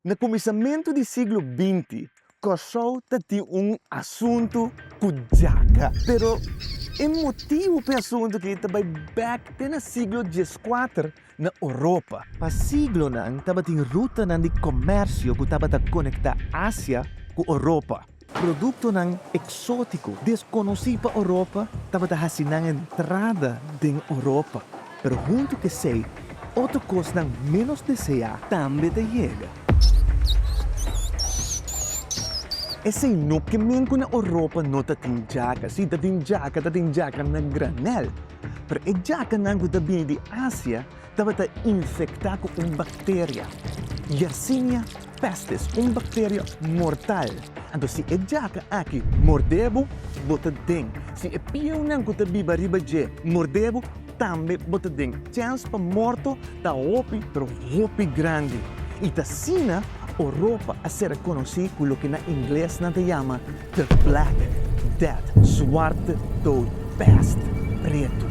Na kuminsamentu di siglo binti, Kòrsou ta tin un asuntu ku djaga. Pero e motibu p'e asuntu aki ta bai bèk te na siglo dieskuater na Oropa. Pa siglonan tabatin rutanan di komèrsio ku tabata konektá Asia ku Oropa. Produktonan eksótiko deskonosí pa Oropa tabata hasi nan entrada den Oropa, pero huntu k'esei otro kosnan ménos deseá tambe ta yega. Esei no ke men ku na Oropa no ta tin djaka. Si ta tin djaka, ta tin djaka na granèl. Pero e djakanan ku ta bini di Asia tabata infektá ku un bakteria, Yersinia pestis, un bakteria mortal. Anto si e djaka aki mordé bo, bo ta den. Si e pieunan ku ta biba riba dje mordé bo, tambe bo ta den. Chèns pa morto ta hopi, pero hopi grandi. I t'asina Oropa a ser rekonosí ku loke na ingles nan ta yama. The Black Death, Suarte Dood, Pest, Pretu.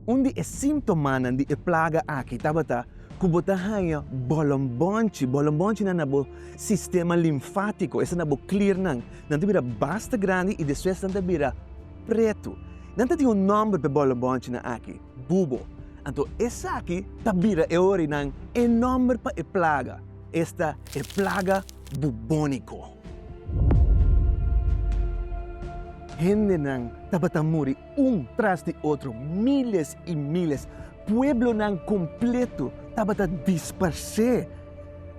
Un di e sintomanan di e plaga aki tabata ku bo ta haña bolombonchi. Bolombonchinan na bo sistema linfátiko, esei na bo klirnan, nan ta bira basta grandi i despues nan ta bira pretu. Nan ta tin un nòmber p'e bolombonchinan aki. bubo. Anto esaki ta bira e orinan e nòmber pa e plaga, esta e plaga bubóniko. Hendenan tabata muri un tras di otro, míles i míles. Pueblonan kompletu tabata disparsé.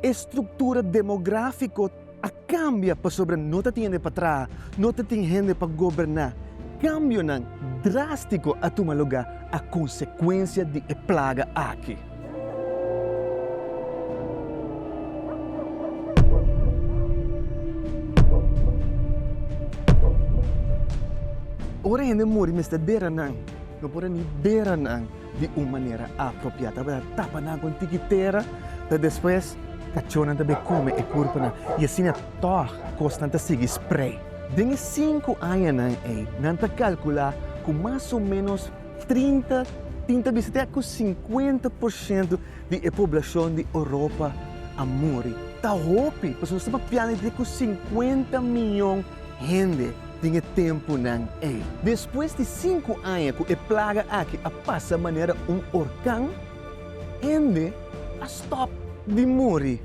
E struktura demográfiko. a kambia pasobra no ta tin hende pa traha, no ta tin hende pa goberná. Kambionan drástiko a tuma lugá a konsekuensia di e plaga aki. Ora hende muri mester bera nan, no por a ni bera nan. di un manera apropiá. Tabata tapa nan ku un tiki tera, ta despues kachónan ta bai kume e púrpuna i asina tòg kosnan ta sigui sprei. Den e sinku añanan ei nan ta kalkulá ku mas o ménos trinta, tin ta bisa te ku sinkuenta por shento di e poblashon di Oropa a muri. Ta hopi, pasobra nos ta papia di ku sinkuenta mion hende. den e tempunan ei. Despues di sinku aña ku e plaga aki a pasa manera un orkan, hende a stòp di muri.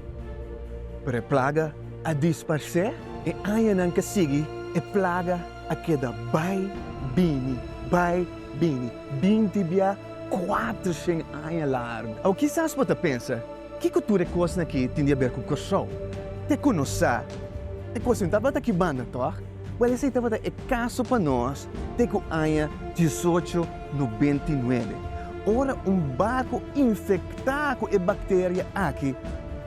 Pero e plaga a disparsé. E añanan ke sigui e plaga a keda bai bini, bai bini, binti bia kuater shen aña largu. Awe kisas bo ta pensa, Kiko tur e kosnan aki tin di aber ku Kòrsou? Te ku nos sa, e kosnan tabata ki banda, tòg? Buen, esei tabata e kaso pa nos te ku aña diesocho nobenta i nuebe, ora un barku infektá ku e bakteria aki,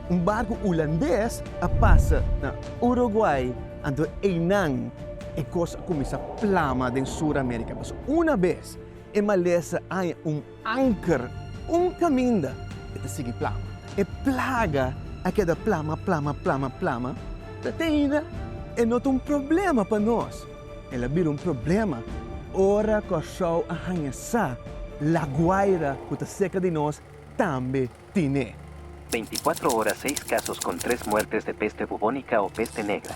un barku ulandes, a pasa na Uruguai, anto einan e kos a kuminsá plama den Sur Amérika. Pasobra una bes e malesa aña un Anker, un kaminda e ta sigui plama. E plaga a keda plama, plama, plama, plama, ta te ainda e no ta un problema pa nos. El a bira un problema ora Kòrsou a haña sa Laguaira ku ta serka di nos tambe tin e. Beinti kuatro ora seis kasos kon tres muertes de peste bubónika o peste negra.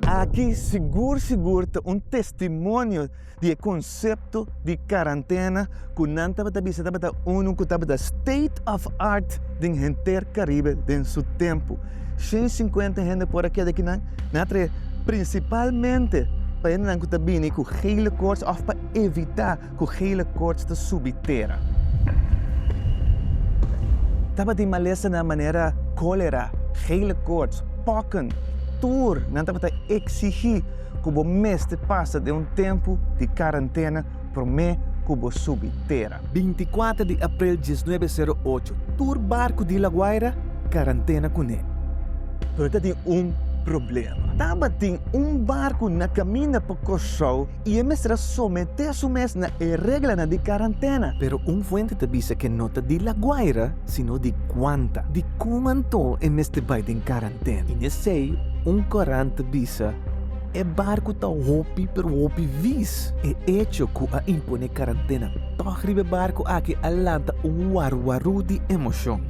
Aki sigur sigur ta un testimonio di e konsepto di karantena ku nan tabata bisa tabata unu ku tabata state of art den henter Karibe den su tempu. Shen sinkuenta hende por a keda aki nan nan a trae prinsipalmente pa hendenan ku ta bini ku hele kors òf pa evitá ku gele koorts ta subi tera. Tabatin malesanan manera kólera, gele koorts, pòken, tur nan tabata eksigí ku bo mester pasa den un tempu di karantena promé ku bo subi tera. Bintikuater di aprel diesnuebe sero ocho, tur barku di La Guaira karantena kuné. Pero tabatin un problema. Tabatin un barku na kaminda pa Kòrsou. i e mester a someté su mes na e reglanan di karantena. Pero un fuente ta bisa ke no ta di La Guaira, sino di Cuanta. Dikon anto e mester bai den karantena? I nesei un korant ta bisa e barku ta hopi pero hopi vis. E echo ku a imponé karantena tòg riba e barku aki a lanta un waruwaru di emoshon.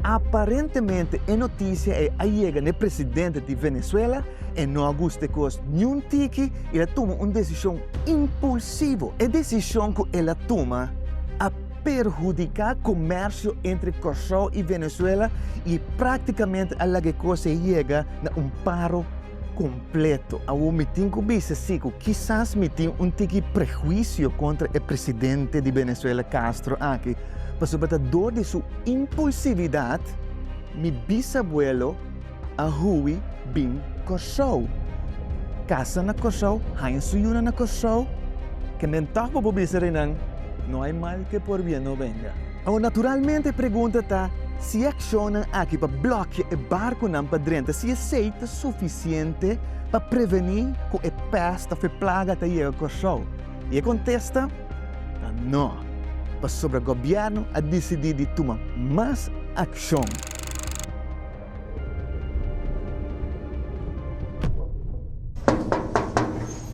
Aparentemente e notisia ei a yega n'e presidente di Venezuela, E no a gusta e kos niun tiki i a tuma un desishon impulsivo. E desishon ku el a tuma a perhudiká komersio entre Kòrsou i Venezuela i práktikamente a laga e kos ei yega na un paro kompleto. Awor mi tin ku bisa si ku kisas mi tin un tiki prehuisio kontra e presidente di Venezuela Castro aki pasobra ta dor di su impulsividat, mi bisabuelo, a hui bin Kòrsou. Kasa na Kòrsou, haña su yuna na Kòrsou, ke men tòg pa bo bisa reinan, no hay mal ke por bien no venga. Awor, naturalmente e pregunta ta, si e akshonnan aki pa blòkia e barkunan pa drenta, si esei ta sufisiente pa prevení ku e pèst òf e plaga ta yega Kòrsou? I e kontesta ta no, pasobra gobièrnu a disidí di tuma mas akshon.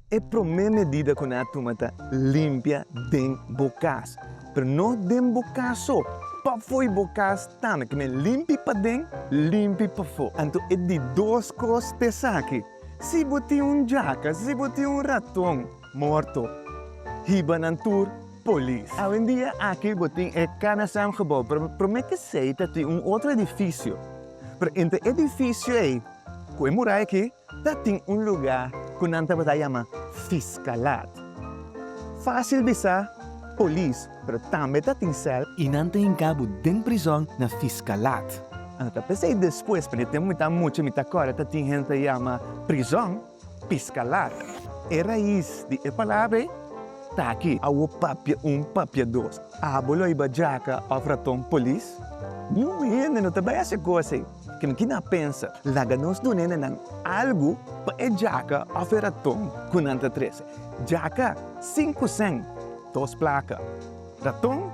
E promé medida ku nan a tuma ta limpia den bo kas. Pero no den bo kas so, pafoi bo kas tambe. Ke men limpi paden, limpi pafó. Anto e di dos kos ta esaki, si bo tin un djaka, si bo tin un raton, morto. Hiba nan tur polis. Awendia aki bo tin e Canasam gebou, pero prome kesey ta tin un otro edifisio. Pero entre e edifisio ey cu e muray aki ta tin un luga cu nan tabata yama Fiscalat. Facil bisa polis, pero tambe ta tin cel. Y nan ta hinca bo den prizon na Fiscalat. Ando ta p'esey despues, p'e tem mitad mucha mi ta corda ta tin hende ta yama prizon. Piscalata. E rais di e palabra ei ta aki. Awo papia un, papia dos. Abo lo ayba djaca of raton polis? Nu hende no ta bay haci e cos ei. Kende ki na pensa. Laga nos duna hendenan algo pa e djaca of e raton cu nan ta trece. Djaca, cinco cent, dos placa. Raton,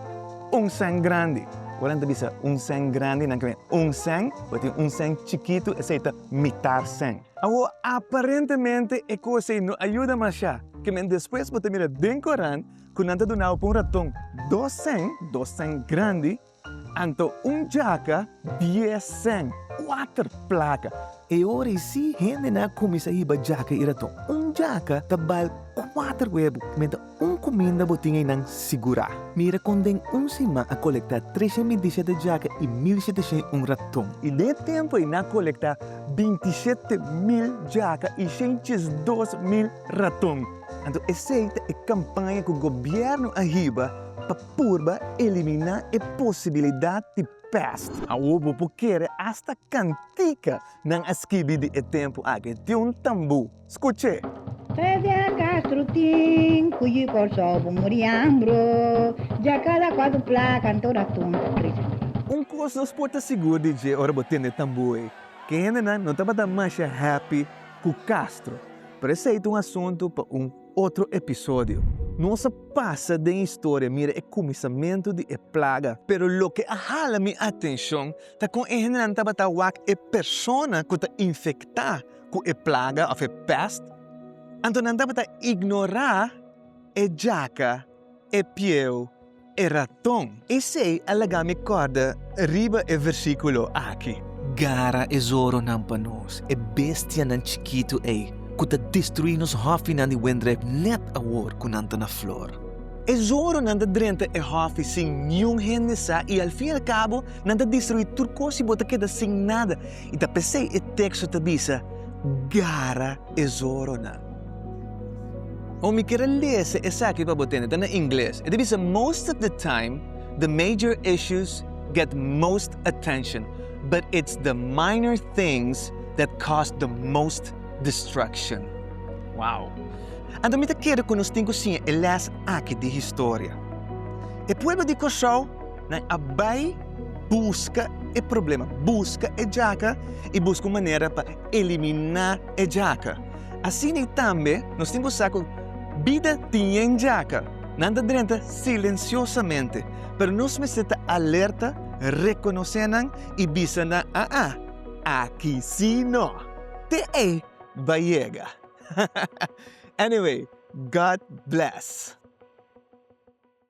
un cent grandi. Ora nan ta bisa un cent grandi, nan ta mira un cent, ora tin un cent chikito, esey ta mitar cent. Awor, aparentemente e cos ey no a yuda mashá, que men despues bo ta mira den Corán cu nan ta duna bo pa un raton dos cen, dos cen grandi, anto un jaca dies cen, cuater placa. E ora ey sí, hende nan a cuminsa hiba jaca y raton. Un jaca ta bal cuater webo, men ta. Un kuminda bo tin einan sigurá. Mira kon den un siman a kolektá treshen bintisete djaka i mil sheteshen un raton. I den e tempu ei nan a kolektá bintisete mil djaka i shentjesdos mil raton. Anto esei ta e kampaña ku gobièrnu a hiba pa purba eliminá e posibilidat di pèst. Awor bo por kere asta kantika nan a skibi di e tempu aki. Tin un tambú. Scuch'é! P'esei a Castro tin cu yi Kòrsou bo muri ambro, dja kada kuatu plaka anto raton ta trece na bo. Un kos nos por ta sigur di dje ora bo tende tambu ei, ke hendenan no tabata masha happy ku Castro. Pero esei ta un asuntu pa un otro episodio. Nos a pasa den historia mira e kuminsamentu di e plaga. Pero loke a hala mi atenshon ta kon e hendenan tabata wak e persona ku ta infektá. ku e plaga òf e pèst, anto nan tabata ignorá e djaka, e pieu, e raton. Esei a laga mi kòrda riba e versíkulo aki. Gara e zoronan pa nos, e bestianan chikitu ei ku ta destruí nos hòfinan di wendrèp nèt awor ku nan ta na flor. E zoronan ta drenta e hòfi sin niun hende sa i alfin al kabo nan ta destruí tur kos i bo ta keda sin nada. I ta pesei e teksto ta bisa, Gara e zoronan. Ora mi kere lese esaki pa bo tende, ta na ingles. E ta bisa, Most of the time, the major issues get most attention, but it's the minor things that cause the most destruction. Wow! Anto mi ta kere ku nos tin ku siña e lès aki di historia. E pueblo di Kòrsou Nan a bai buska e problema, buska e djaka i buska un manera pa eliminá e djaka. Asina i tambe nos tin ku sa ku bida tin yen djaka. Nan ta drenta silensiosamente, pero nos mester ta alerta, rekonosé nan i bisa nan, A'a, aki sí no! Te ei bai yega! Anyway, God bless!